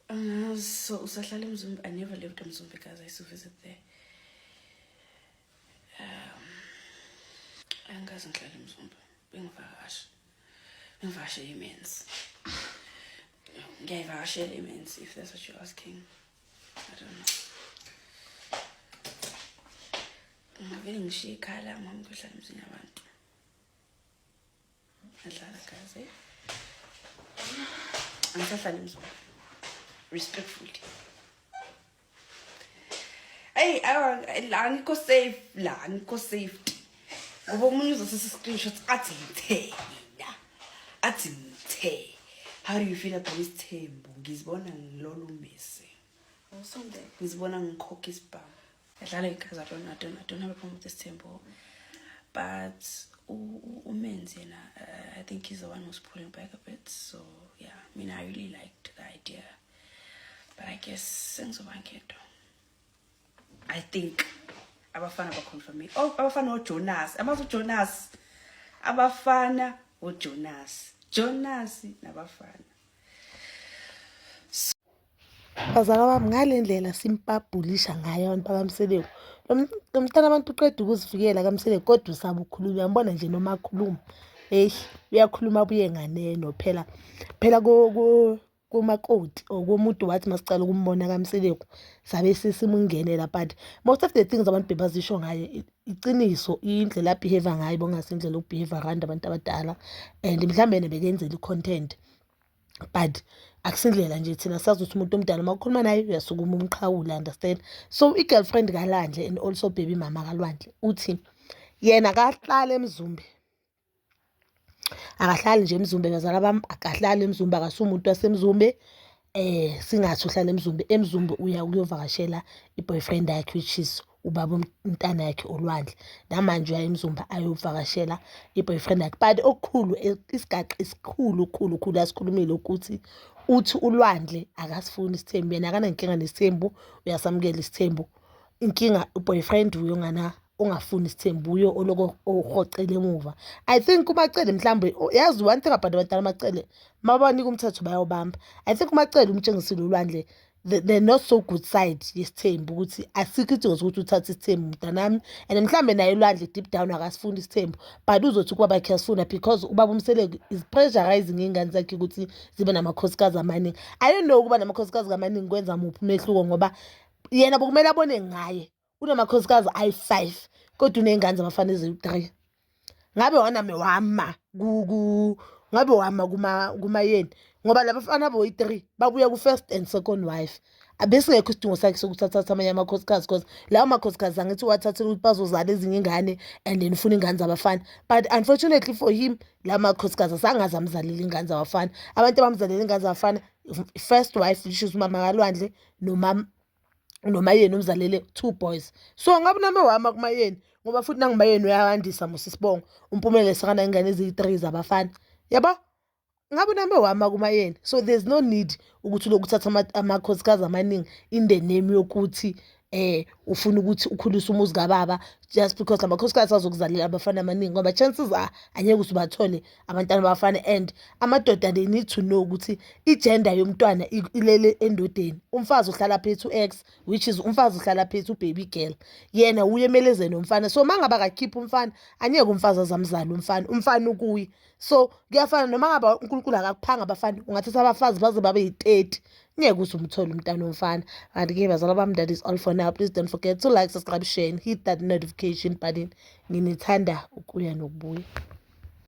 Uh, so usahlala emzumbi i never lived emzumbi guys i used to visit there um angikaze ngihlala emzumbi bengivakasha bengivakashe imenzi ngiyayivakashela imenzi if that's what you're asking i don't know ngavele ngishiye ikhala mama kuhlala emzini yabantu angisahlali emzini respectfully eyi la ngikho safe la ngikho safety ngoba omunye uzosisa i-screenshot athi ngithena athi ngithe how do you feel about isithembu ngizibona ngilolu mese ngizibona ngikhokha isibhamu Edlala igazi I don't, I don't, I don't have a problem with this temple. But umenzi yena uh, I think he's the one who's pulling back a bit. So yeah, I mean I really liked the idea. But I guess sengizoba ngento. I think abafana baconfirme. Oh, abafana uJonas. Amazi uJonas. Abafana uJonas. Jonas nabafana. Bazala bami ngale ndlela simpabhulisha ngayo abantu bakaMseleku lo mntana abantu uqeda ukuzivikela kaMseleku kodwa usaba ukhuluma uyambona nje noma akhuluma eyi uyakhuluma abuye nganeno phela phela komakoti or komuntu wathi masicala ukumbona kaMseleku sabe sesimungenela but most of the things abantu bebazisho ngayo iqiniso indlela abhiheva ngayo bongasindlela ukubhiheva rand abantu abadala and mhlawumbe nebekenzela i-content but akusindlela nje thina sazi ukuthi umuntu omdala uma ukhuluma naye uyasukuma umqhawula understand so i-girlfriend kalandle and also baby mama kalwandle uthi yena akahlali emzumbe akahlali nje emzumbe bazala bami akahlali emzumbe akasumuntu wasemzumbe eh singathi uhlala emzumbe emzumbe uya ukuyovakashela i-boyfriend yakhe which is ubaba umntana yakhe olwandle namanje uyaye emzumba ayovakashela i-boyfriend yakhe but okukhulu isigaxa esikhulu khulu khulu asikhulumile ukuthi uthi ulwandle akasifuni isithembu yena akanankinga nesithembu uyasamukela isithembu inkinga u-boyfriend uye ongana ongafuni isithembu uye oloko ohoxela emuva i think umacele mhlawumbe yazi one thing about abantwana amacele mabanika umthetho bayawubamba i think umacele umtshengisile ulwandle the, the not so good side yesithembu ukuthi asikho isidingo sokuthi uthathe isithembu mntanami and mhlawumbe naye ulwandle deep down akasifuni isithembu but uzothi ukuba bakhe asifuna because ubaba umseleko is pressurizing iy'ngane zakhe ukuthi zibe namakhosikazi amaningi i don't know ukuba namakhosikazi kamaningi kwenza muphi umehluko ngoba yena bokumele abone ngaye unamakhosikazi ayi-five kodwa uney'ngane zabafana eziwu-three ngabe wanami wama ngabe wama kumayeni ngoba labafana boyi-three babuya ku-first and second wife abesingekho isidingo sakhe sokuthi athathe amanye amakhosikazi because lawo makhosikazi angithi uwathathela ukuthi bazozala ezinye ingane and then ufuna iy'ngane zabafana but unfortunately for him lawo makhosikazi asangaze amzalele iy'ngane zabafana abantu abamzalele iy'ngane zabafana first wife which is umama kalwandle nomama unomayeni umzalele two boys so ngabe nami wama kumayeni ngoba futhi nangumayeni uyawandisa musisibongo umpumele sekana ingane eziyi-three zabafana yabo ngabe nami wama kumayeni so there's no need ukuthi lokuthatha amakhosikazi amaningi in the name yokuthi eh ufuna ukuthi ukhulise umuzi kababa just because lamakhosikazi azokuzalela abafana amaningi ngoba chances are angeke usubathole abantwana bafana and amadoda they need to know ukuthi igender yomntwana ilele endodeni umfazi uhlala phethi u-x which is umfazi uhlala phethi ubaby girl yena uye emelezeni umfana so mangabe akakhipha umfana anyeke umfazi azamzala umfana umfana ukuye so kuyafana noma ngabe unkulunkulu akakuphanga abafana ungathatha abafazi baze babe yi-30 ngeke uze umthole umntana omfana kanti ke bazala bami that is all for now please don't forget to like subscribe share and hit that notification button nginithanda ukuya nokubuya